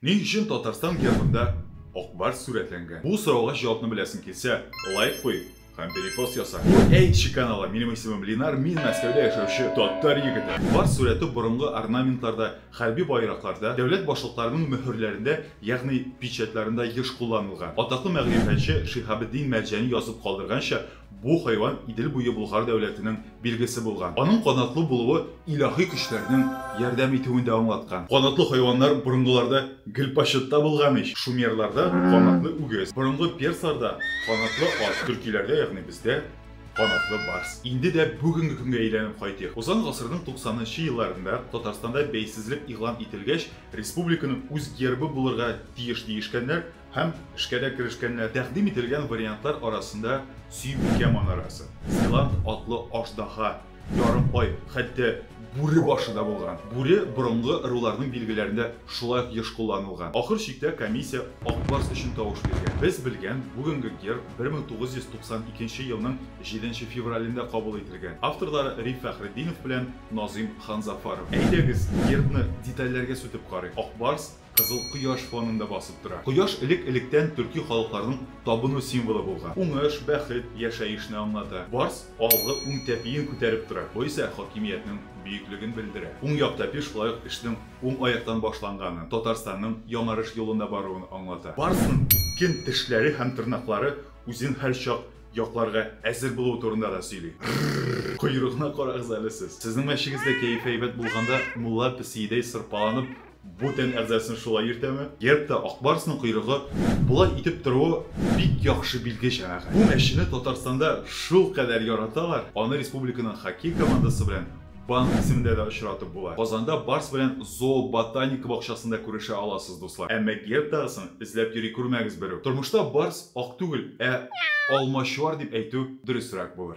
Ни өчен Татарстан гербында Ак барс сурәтләнгән? Бу сорауга җавапны беләсең килсә, лайк куй һәм перепост яса. Һур әйтче каналы, минем исемем Линар, мин Мәскәүдә яшәүче татар егете. Барс сурәте борынгы орнаментларда, хәрби байракларда, дәүләт башлыкларының мөһерләрендә, ягъни печатьларында еш кулланылган. Атаклы мәгърифәтче Шиһабетдин Мәрҗани язып калдырганча, Бу хайван Идел буе Болгар дәүләтенең билгесе булган. Аның канатлы булуы илаһи көчләрнең ярдәм итүен дә аңлаткан. Канатлы хайваннар борынгыларда гел почетта булган ич. Шумерларда канатлы үгез, борынгы персларда канатлы ат, төркиләрдә, ягъни бездә, канатлы барс. Инде дә бүгенге көнгә әйләнеп кайтыйк. Узган гасырның туксанынчы елларында Татарстанда бәйсезлек игълан ителгәч, республиканың үз гербы булырга тиеш диешкәннәр, Һәм эшкә дә керешкәннәр. Тәкъдим ителгән вариантлар арасында Сөембикә манарасы, Силант атлы аждаһа, Ярымкай, хәтта бүре башы да булган. Бүре борынгы ыруларның билгеләрендә шулай ук еш кулланылган. Ахыр чиктә комиссия Ак барс өчен тавыш биргән. Без белгән бүгенге герб 1992 елның 7 нче февралендә кабул ителгән. Авторлары Риф Фәхретдинов белән Назыйм Ханзафаров. Әйдәгез, гербны детальләргә сүтеп карыйк. Ак барс, Кызыл кояш фонында басып тора. Кояш элек-электән төрки халыкларның табыну символы булган. Уңыш, бәхет, яшәешне аңлата. Барс алгы уң тәпиен күтәреп тора. Бу исә хакимиятнең бөеклеген белдерә. Уң як тәпи шулай ук эшнең уң аяктан башланганын, Татарстанның яңарыш юлында баруын аңлата. Барсның үткен тешләре һәм тырнаклары үзен һәрчак якларга әзер булуы турында да сөйли. Рррр! Койрыгына карагыз әле сез! Сезнең мәчегездә кәеф әйбәт булганда, мулла песиедәй сырпаланып, Бу тән әгъзасын шулай йөртәме? Гербта Ак Барсның койрыгы болай итеп торуы бик яхшы билге, җәмәгать. Бу мәчене Татарстанда шулкадәр яраталар, аны республиканың хоккей командасы белән Банк исемендә дә очратып була. Казанда Барс белән Зооботаника бакчасында күрешә аласыз, дуслар. Әмма гербтагысын эзләп йөри күрмәгез берүк. Тормышта Барс ак түгел, ә Алмачуар дип әйтү дөресрәк булыр.